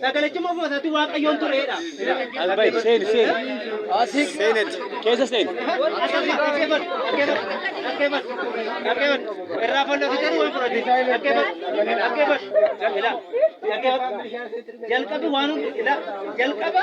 Sagalachuma ofuma isaatii waaqayyoon tureedha. As bahi seeni seeni. Asik. Seenetti. Keessa seeni. Jalqaba waan jalqaba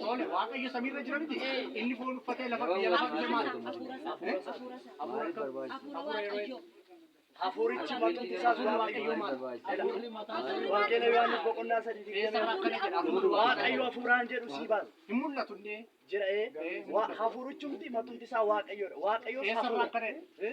Toole waaqayyo samiirra jira miti. Inni foon uffatee lafa biyya lafaa biyya maal? Hafuurichi maqaan isaa sun waaqayyo maal? Wangeela Yohaannis boqonnaa sadii fi Eessa irraa akkana jedha? Hafuura waaqayyo hafuuraan jedhu sii baasa. Hin mul'atu inni. Jira ee. Wa- Hafuurichumti maqaan isaa waaqayyoodha. Waaqayyo Eessa irraa akkana jedha?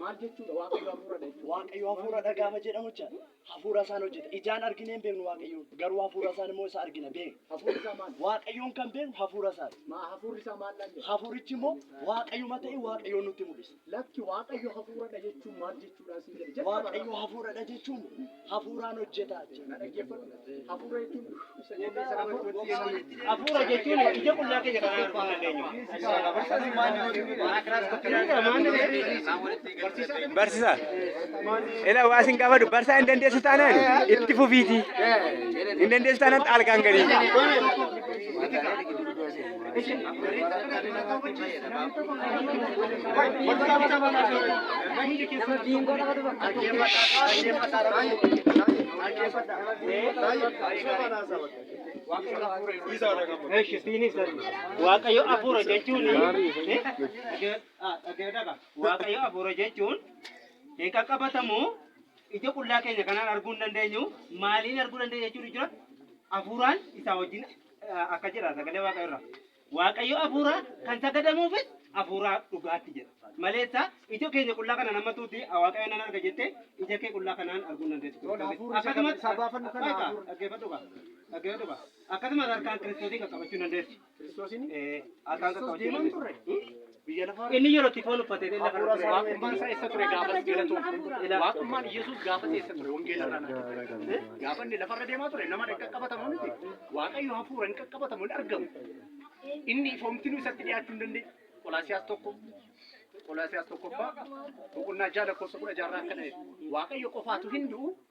Maal jechuudha waaqayyo hafuuradha jechuudha. Waaqayyo hafuuradha gaafa jedhamu jecha hafuura isaan hojjeta. Ijaan arginee hin beeknu waaqayyo garuu hafuura isaan immoo isa argina beekna. Hafuurri isaa maal? Waaqayyoon kan beeknu hafuura isaati. Maa hafuurri isaa maal dhaan jedha? Hafuurichi immoo waaqayyuma ta'e waaqayyoon nutti mul'isa. Lakki waaqayyo hafuuradha jechuun maal jechuudhaan siin jedhe? Jalqaba Waaqayyo hafuuradha jechuun hafuuraan hojjetaa jechuudha. Hafuura jechuun hafuura jechuun ija qullaa keenya kan arguu hin dandeenyu. Barsiisaa. Ila waa isin gaafadhu barsaa hin dandeessu taanaan itti fufiiti. Hin dandeessu taanaan xaalgaan galii. Waaqayyo afuura jechuun Waaqayyo afuura jechuun hin qaqqabatamu ija qullaa keenya kanaan arguu hin dandeenyu maaliin arguu dandeenya jechuun jira afuuraan isaa wajjin akka jedha sagalee waaqayyo irraa. Waaqayyo hafuura kan sagadamuufis hafuura dhugaatti jedha. Maleessa ija keenya qullaa kanaan amma tuuti waaqayyo nan arga jettee ija kee qullaa kanaan arguu hin dandeessu. Lola hafuurri isa kan- isa baafannu kana Egaa, hafuurri. dhaggeeffadhu kaa. Dhaggeeffadhu kaa. Akkasumas harkaan kiristoosii qaqqabachuu hin dandeessu. Kiristoosiin Eh, harkaan Kiristoos qaqqabachuu hin deemaa hin dandeessu. turre. Inni yeroo itti foon uffate illee lafa irra ture. Waaqummaan isaa eessa ture gaafas galatoomte. Waaqummaan Yesuus gaafas eessa ture wangeela irraa natti ture. Gaafa inni lafarra deemaa ture nama hin qaqqabatamu miti. Waaqayyo hafuura hin qaqqabatamu hin argamu. Inni ifoomtinuu isatti dhiyaachuu hin dandeenye. Qolaasiyaas tokko Qolaasiyaas tokkoffaa boqonnaa ja'a lakkoofsa kudha ja'a irraa akkana jedha. Waaqayyo qofaatu hin du'u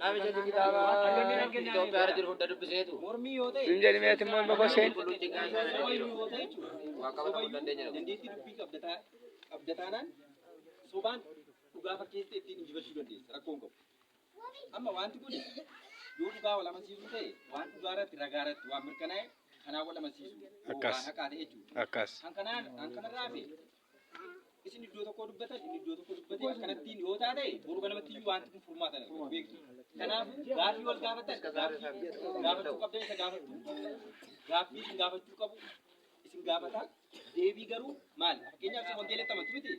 Namicha si kitaaba Itoophiyaa irra jiru hunda dubbiseetu. Mormii yoo ta'e. Sun jedhimee ati morma koseen. Qulqulluu xiqqaa hin taane jiru. Waan qabatan hunda dandeenya jedhu. Dandeettii dubbii qabdataa qabdataanaan sobaan dhugaa fakkeessee ittiin injifachuu dandeessa rakkoo hin qabu. Amma wanti kun yoo dhugaa wal amansiisuu ta'e waan dhugaa irratti ragaa irratti waan mirkanaa'e kanaa wal amansiisuu Akkas. waan haqaa ta'e jechuudha. Akkas. Kan kanaan kan kanarraa fi isin iddoo tokkoo dubbatan inni iddoo tokkoo dubbatee akkanattiin yoo taate boru kanamatti iyyuu wanti kun furmaata dha beektu kanaafuu gaaffii wal gaafatan gaaffii gaafachuu qabdan isa gaafachuu gaaffii isin gaafachuu qabu isin gaafata deebii garuu maal fakkeenyaaf isin wangeelatti amantu miti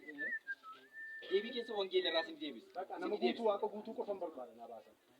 deebii keessa wangeela irraa isin deebisa nama guutuu waaqa guutuu qofan barbaada naa baasan